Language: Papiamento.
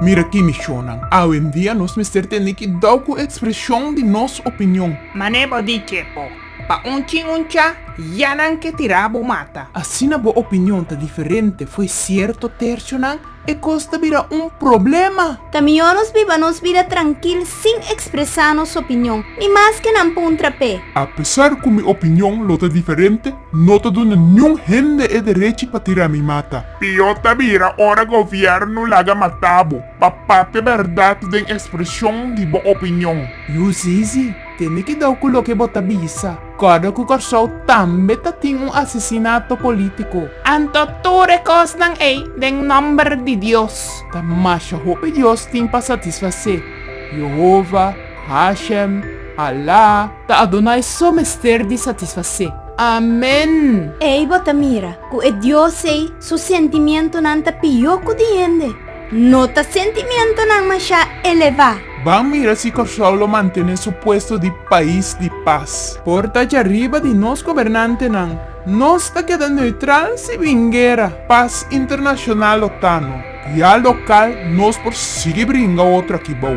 Mira ki misionnan. Awendia nos mester tende kidau ku ekspresion di nos opinion. Mane bo di ke bo pa un chin un cha, ya nan ke tira bo mata. Asina bo opinion ta diferente fo'i sierto tersionan. e kos ta bira un problema. Ta mihó nos biba nos bida trankil sin ekspresá nos opinion, ni mas ke nan puntra p'e. Apesar ku mi opinion lo ta diferente, no ta duna niun hende e derechi pa tira mi mata. Pió ta bira ora gobièrnu laga mata bo pa papia bèrdat den ekspreshon di bo opinion. Yu zizi, tene kidau ku loke bo ta bisa. Kòrda ku Kòrsou tambe ta tin un asesinato polítiko. Anto tur e kosnan ei den nòmber di Dios. Ta masha hopi dios tin pa satisfasé. Yehova, Hashem, Allah, ta Adonai so mester di satisfasé. Amén! Ei bo ta mira ku e Dios ei su sentimientunan ta pió ku di hende. No ta sentimientonan mashá elevá. Ban mira si Kòrsou lo mantené su puesto di pais di pas. Por ta dja riba di nos gobernantenan, nos ta keda neutral si bin guera, pas internashonal o tano. Ya lokal nos por sigui bringa otro aki bou.